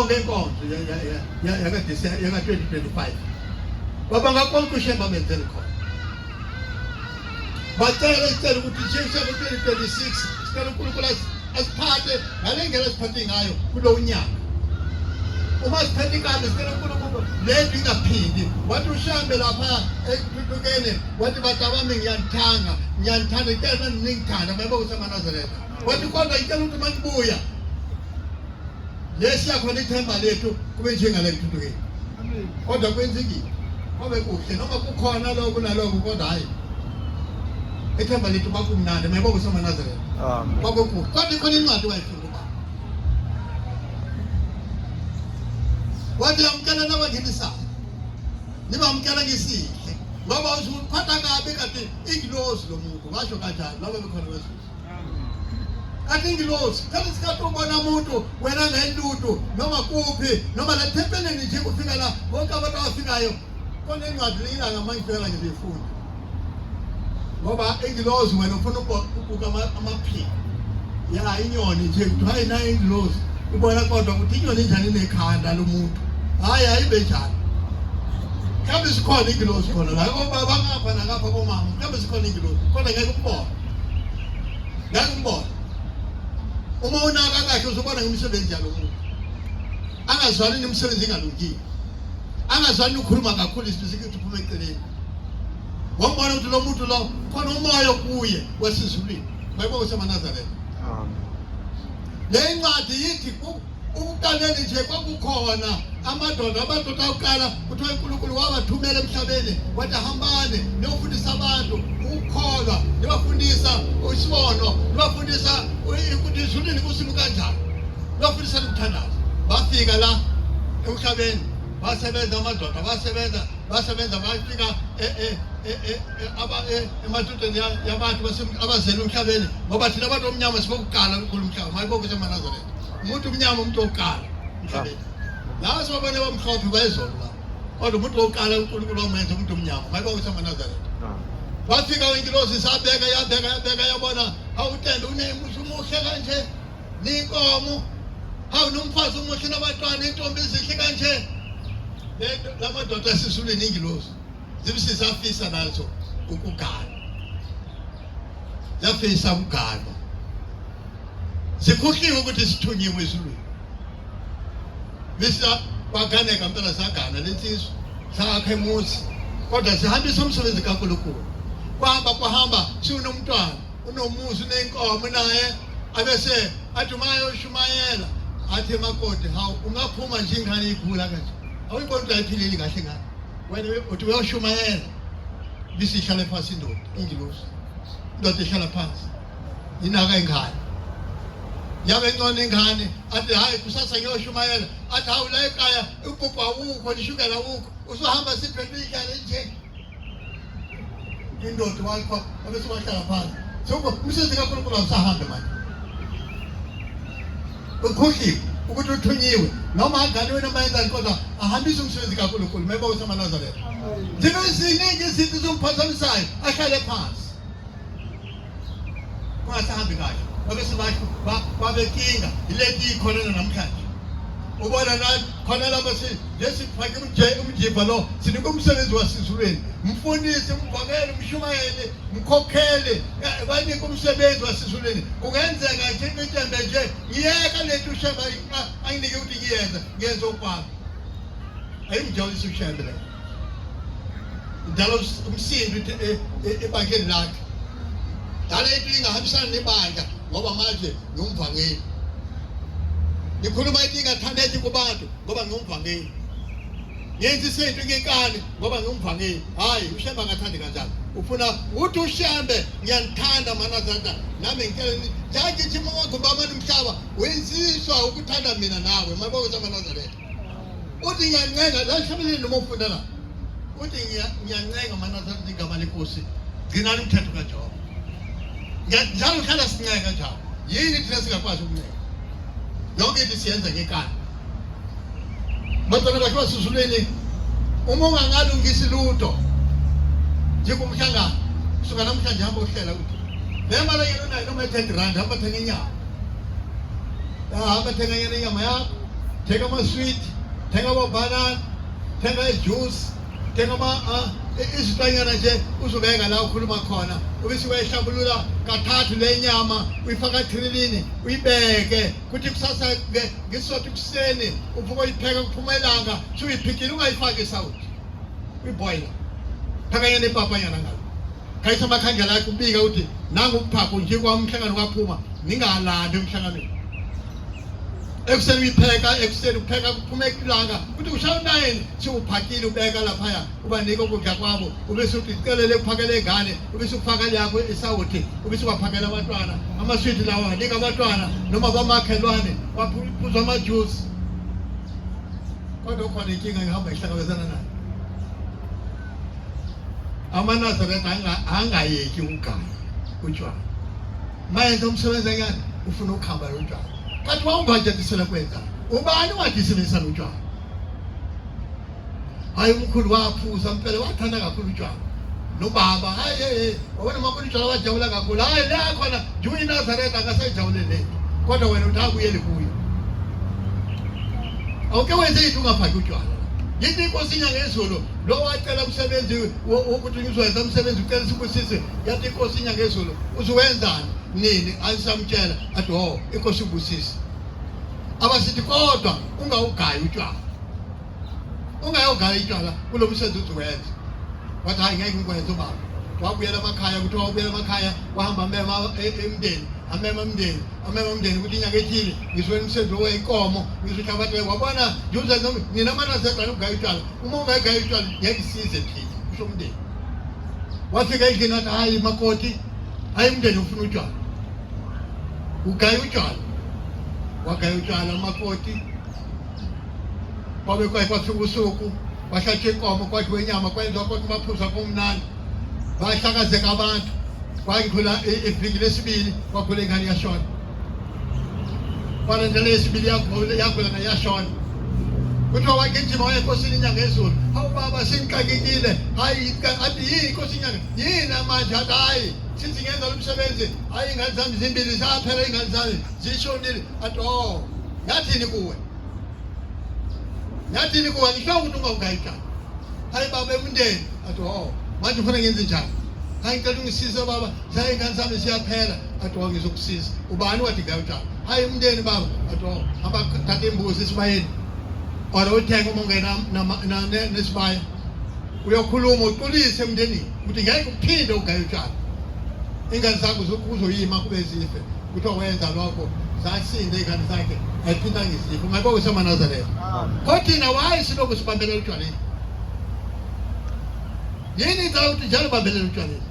yonke inkonzo yaka-2025 baba ngakonke ushemba amenzele khona bacela sicela ukuthi njengoshemba 2026 sicela unkulunkulu asiphathe ngale ndlela asiphathe ngayo kulo unyaka uma siphethe inkanda sicela unkulunkulu le nto ingaphindi wathi ushambe lapha ekuthukeni wathi bata bami ngiyanithanga ngiyanithanda ngicela naningithanda mayiba ukuthi amanazaretha wathi kodwa ngicela ukuthi uma nibuya lesiya khona ithemba lethu kube njengale ntuthukeni kodwa kwenzekile kwabe kuhle noma kukhona lokhu nalokhu kodwa hhayi ethemba lethu kwakumnandi mayibo kusomanazarela kwabe kuhle kodwa ikhona incwadi wayifunda uba wathi yamkela nabangenisayo nibamkela ngisihle ngoba uziphatha kabi kanti ingilozi lo muntu ngasho kanjani laba bekhona bezulu atingilosi kama sikatombona muntu wena nendudu noma kuphi noma lathempeleni nje kufika la bonke abantu abafikayo kona incwadi leyila ngamangifela nje befunda ngoba ingilozi wena ufuna ukubuka amaphiko ya inyoni nje kuthiwa yena ingilozi ubona kodwa ukuthi inyoni injani inekhanda lomuntu hayi ayibe njani mhlawumbe sikhona ingilozi khona la obaba ngapha nangapha komama mhlawumbe sikhona ingilozi kodwa ngeke ukubona Ngangibona. Uma unaka kahle uzobona ngemisebenzi yalo muntu. Angazwani nemisebenzi engalungile. Angazwani ukhuluma kakhulu isibisi ukuthi uphume eceleni. Wambona ukuthi lo muntu lo khona umoya kuye wasizulwini. Bayibo usemanazareth. Amen. Le ncwadi yithi Umqaleni nje kwakukhona amadoda abantu okuqala kuthiwa uNkulunkulu wawathumela emhlabeni wathi hambane niyofundisa abantu ukukholwa nibafundisa isibono nibafundisa ukuthi izulwini kusimu kanjani nibafundisa nokuthandaza bafika la emhlabeni basebenza amadoda basebenza basebenza bafika emadodeni yabantu abazele umhlabeni ngoba thina abantu omnyama sibokuqala kukhulu umhlaba mayibokuze emanazaretha umuntu umnyama umuntu wokuqala emhlabeni lawa sibabona bamhlophe bayizolo la kodwa umuntu wokuqala unkulunkulu wamenza umuntu omnyama mayiba ukuthi amanazaretha wafika ingilosi sabeka yabeka yabeka yabona awutende unemuhle umuhle kanje ninkomo hawu nomfazi umuhle nabatwana intombi ezihle kanje lamadoda esisulweni ingilosi zimsi zafisa nazo ukugana zafisa ukugana zikhohliwe ukuthi sithunyiwe ezulwini misa kwaganeka mpela sagana lensizwa sakhe emuzi kodwa sihambisa umsebenzi kaNkulunkulu kwahamba kwahamba siwunomntwana unomuzi unenkomo naye abese athi uma ayoshumayela athi makoti hawu ungaphuma nje ingane igula kanje awuyiboni ukuthi ayiphileli kahle ngane wena uthi uyoshumayela bisi ihlale phansi indoda ingilosi indoda ihlala phansi inaka ingane yabe ncona ingane athi hayi kusasa ngiyoshumayela athi hawu la ekhaya ugogo awukho nishukela awukho usuhamba siphethe indlala nje indoda wakho abesuwahlala phansi so umsebenzi kankulunkulu awusahambe manje ukhohliwe ukuthi uthunyiwe noma adlaliwe noma yenzani kodwa ahambise umsebenzi kaNkulunkulu meba usamanazaretha zibe ziningi izinto zomphazamisayo ahlale phansi kungasahambi kahle babesibasho babekinga ileti ikhonana namhlanje ubona nathi khona lapha lesifake umjiva lo sinika umsebenzi wasizulweni mfundisi mvakele mshumayele mkhokhele banike umsebenzi wasizulweni kungenzeka nje ngitembe nje ngiyeka lento ushembe anginike ukuthi ngiyenza ngiyenza okwami ayimjabulisa ushembe leyo Dala umsindo e, e, ebandleni lakhe. Dala into ingahambisana nebandla ngoba manje ngumvangeli. Ngikhuluma into ingathandeki kubantu ngoba ngumvangeli. Ngenza isinto ngenkani ngoba ngumvangeli. Hayi, ushemba ngathandi kanjani. Ufuna uthi ushembe ngiyanithanda mana zanda. Nami ngicela ngithi ngigijima wakho baba nomhlaba. Wenziswa ukuthanda mina nawe. Mayibokuza mana zanda. uthi ngiyancenga la family noma ufunda la uthi ngiyancenga mana sathi igama lenkosi gcina umthetho kaJehova njalo uhlala sincenga njalo yini thina singakwazi ukuncenga yonke into siyenza ngekani batwana bakhe basuzulweni uma ungangalungisi lutho njengomhlangano kusuka namhlanje hamba uhlela ukuthi le mali yenu nayo noma i-ten rand hamba thenga inyama hamba thenga yena inyama yakho thenga ama-sweet thenga amabhanana thenga ijuice thenga ah, izitanyana nje uzobeka la ukhuluma khona ubisi wayihlambulula kathathu le nyama uyifaka thrilini uyibeke kuthi kusasa ke ngisothu kuseni uvuka uyipheka kuphuma ilanga sho uyiphikile ungayifaki isawuthi uyiboyila phakanya nepapanyana ngalo khayisa amakhandlela akhe ubika ukuthi nangu uphaphu nje kwamhlangano kwaphuma ningalandi emhlanganweni ekuseni uyipheka ekuseni upheka kuphuma ekilanga ukuthi ushaya unayini siwuphakile ubeka laphaya ubanike ukudla kwabo ube sudicelele kuphakela ingane ube sukufaka yakho isawuthi ube subaphakela abantwana amaswidi lawo anika abantwana noma bamakhelwane baphuza amajuice kodwa ukhona inkinga ngihamba ihlangabezana nayo amanazaretha angayeki ukugaya utshwala mayenza umsebenzi engane ufuna ukuhamba lotshwala kanti wawungatshentisela kwenza ubani wadisibisa lotshwala hayi umkhulu waphuza mpela wathanda kakhulu utshwala nobaba hayi hey wena makhulu utshwala wajabula kakhulu hayi la khona njengo iNazareth akasejabule le kodwa wena uthakuyeli kuyo awuke wenze into ungafaki utshwala yini inkosi inyangezulu lo wacela umsebenzi wokuthi ngizowenza umsebenzi ucela sibusise yathi inkosi inyangezulu uzuwenzani nini ayisamtshela athi o oh, inkosi ubusisi abasithi kodwa ungawugayi utshwala ungayogaya itshwala kulo msebenzi uzuwenza wathi hayi ngeke ngikwenze ubaba wabuyela emakhaya kuthiwa wabuyela emakhaya wahamba amema e, e, emndeni amema mndeni amema mndeni ukuthi inyanga ethile ngisuke emsebenzi weyinkomo ngisuthi abantu wabona ngiuze nina manazegana ukugaya utshwala uma ungayigaya utshwala ngeke isize thina kusho umndeni wafika endlini athi hayi makoti hayi umndeni ufuna utshwala ugaya utshwala wagaya utshwala makoti kwabe kwaye kwafika usuku kwahlatshwa inkomo kwadliwa inyama kwenziwa konke amaphuzu akumnandi bahlakazeka abantu kwangidlula iviki lesibili kwagula ingane yashona Wanaendelea isibili yako yako na yashona kuthiwa wagijima waye enkosini inyanga ezulu hawu baba sengixakekile hayi athi yini inkosi inyanga yini amanje athi hayi sithi ngenza lo msebenzi hayi ingane zami zimbili zaphela ingane zami zishonile athi o oh, ngathini kuwe ngathini kuwe ngisho ukuthi ungawugayikani hayi baba emndeni athi o oh, manje ufuna ngenze njani hayi ngicela ungisize baba Cha ingane sami siyaphela athi wa ngizokusiza. Ubani wathi ngayo cha. Hayi umndeni baba athi wa abathatha imbuzi esibayeni. Ora uthenga uma ungena nesibaya. Uyokhuluma uqulise emndenini ukuthi ngeke uphinde ugaye utshani. Ingane zakho uzoyima kube zife. Kuthiwa wenza lokho zasinde ingane zakhe ayiphinda ngizipho ngabe usemanazareth kodwa thina waye silokhu sibambelela utshwaleni yini inza ukuthi njalo bambelela utshwaleni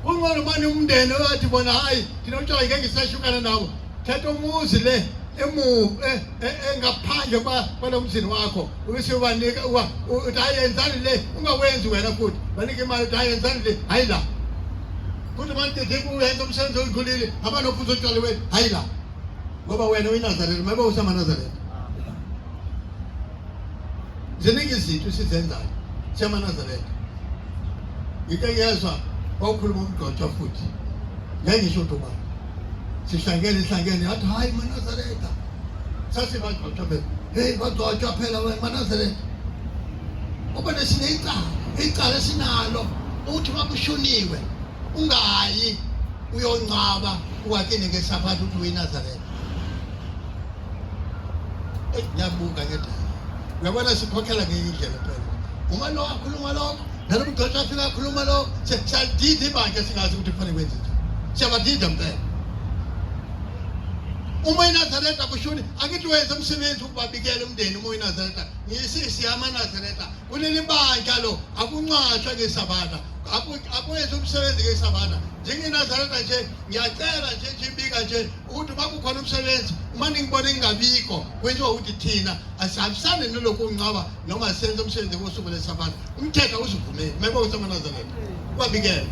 Kungcono manje umndeni owathi bona hayi thina utshwala ngeke ngisashukana nawo thatha umuzi le emu e- e- engaphandle kwa- kwalo mzini wakho ubese ubanika uwa- u- uthi hayi yenzani le ungawenzi wena futhi banike imali uthi hayi yenzani le hayi la futhi manje deku uyenza umsebenzi oyidlulile abanophuza utshwala wena hayi la ngoba wena uyinazareta mabe usamanazareta Ziningi izinto sizenzayo siyamanazaretha. Ngike ngezwa wawukhuluma umgcotshwa futhi ngengisho ukuthi ubani sihlangene ihlangene yathi hhayi manazaretha sasibagcotshwa phela heyi bagcotshwa phela wena manazaretha uba nesineyicala icala esinalo ukuthi uma kushuniwe ungayi uyongcwaba uwakini ngesaphatha ukuthi uyinazaretha eyi ngiyabuka ke dala uyabona sikhokhela ngenye indlela phela uma lo akhuluma lokho nalo mgqeshi afika akhuluma lokho siyadida ibandla singazi ukuthi kufanele kwenze njani siyabadida mpela uma inazareta kushuni angithi wenze umsebenzi ukubabikela umndeni uma inazareta ngisisi yamanazareta kuleli bandla lo akuncwatshwa ngesabata akwenze umsebenzi ngesabata njengenazareta nje ngiyacela nje nje ibika nje ukuthi uma kukhona umsebenzi uma ningibona ingabikho kwenziwa ukuthi thina asihambisane noloku ungcwaba noma senze umsebenzi kosuku lesabatha umthetho awuzivumeli kumele ukuthi amanazarene kwabikela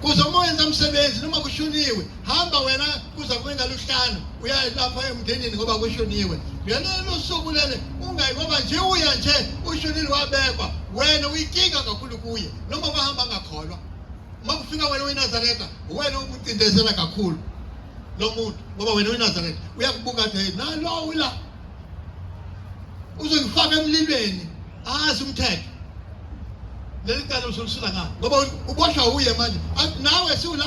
kuze uma wenza umsebenzi noma kushuniwe hamba wena kuza kwengaluhlanu uya lapha emndenini ngoba kushuniwe lelo losuku lele ungayi ngoba nje uya nje ushunile wabekwa wena uyikinga kakhulu kuye noma bahamba ngakholwa uma kufika wena uyinazaretha uwena ukucindezela kakhulu lo muntu ngoba wena uyinazaretha uyakubuka athi hey nalo wila uzongifaka emlilweni azi umthetho leli cala usulisula ngalo ngoba uboshwa uye manje nawe siwula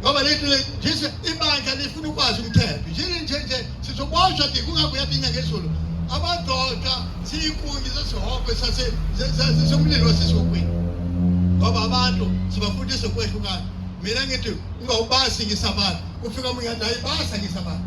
ngoba lethu nje ibandla lifuna ukwazi umthetho njini nje nje sizoboshwa ke kungabuya binya ngezulu amadoda siyikungi sesihoko sasesomlilo wasesihokweni ngoba abantu sibafundisa ukwehlukana mina ngithi ungawubasi ngisabantu kufika omunye athi ayibasa ngisabantu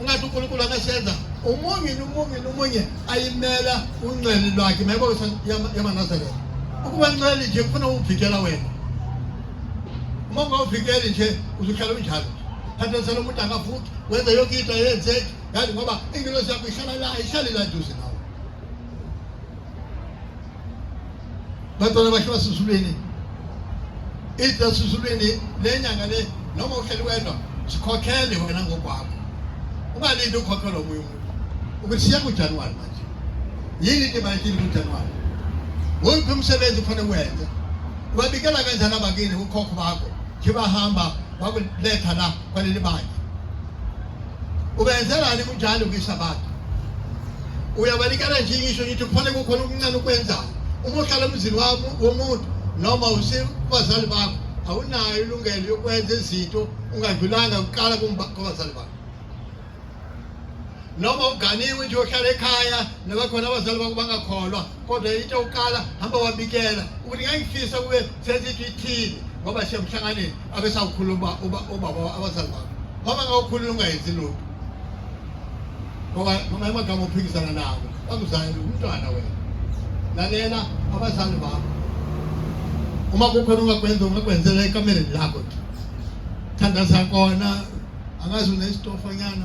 ungathi unkulunkulu akasenza umunye nomunye nomunye ayimela unxele lwakhe mayebo yamanazaretha ukuba nxele nje kufuna uvikela wena uma ungawuvikeli nje uzuhlala unjalo thathesela umuntu angafuthi wenze yonke into ayenzeki yazi ngoba ingilosi yakho ihlala la ihlale la duze nawe bantwana bakhe basezulwini ithi nasezulwini le nyanga le noma uhleli wedwa sikhokhele wena ngokwakho ungalindi ukhokhelwa omunye umuntu ukuthi siya kujanuwari manje yini into ebalulekile kujanuwari wuphi umsebenzi kufanele wenze ubabikela kanjani abakini ukhokho bakho khibahamba bakuletha la kwaleli bandla Ubenzelani kunjalo kwiSabatha? Uyabanikela nje ngisho ngithi kufanele kukhona okuncane ukwenzayo. Uma uhlala emzini wami womuntu noma usibazali bakho awunayo ilungelo yokwenza izinto ungadlulanga kuqala kubazali bakho. Noma uganiwe nje uhlala ekhaya nabakhona abazali bakho bangakholwa kodwa into yokuqala hamba wabikela ukuthi ngangifisa kube sesithi ithini ngoba siyemhlanganeni abesawukhuluma ubaba abazali bakho ngoba ngawukhulula ungayenzi lutho ngoba noma emagama ophikisana nawo bakuzali umntwana wena lalela abazali bakho uma kukhona ungakwenza ungakwenzela ekamereni lakho thandaza kona angazi unesitofonyana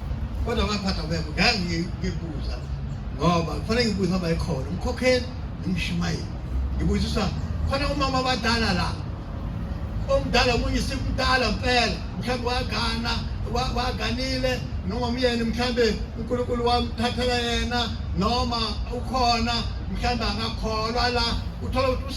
Kodwa ngaphatha kwekho ngangikubuza ngoba kufanele ngibuze ngoba ekhona umkhokheli nomshumayeli. Ngibuzisa khona umama abadala la. Omdala omunye simdala mpela mhlawumbe wagana waganile noma umyeni mhlawumbe uNkulunkulu wamthathela yena noma ukhona mhlawumbe akakholwa la uthola ukuthi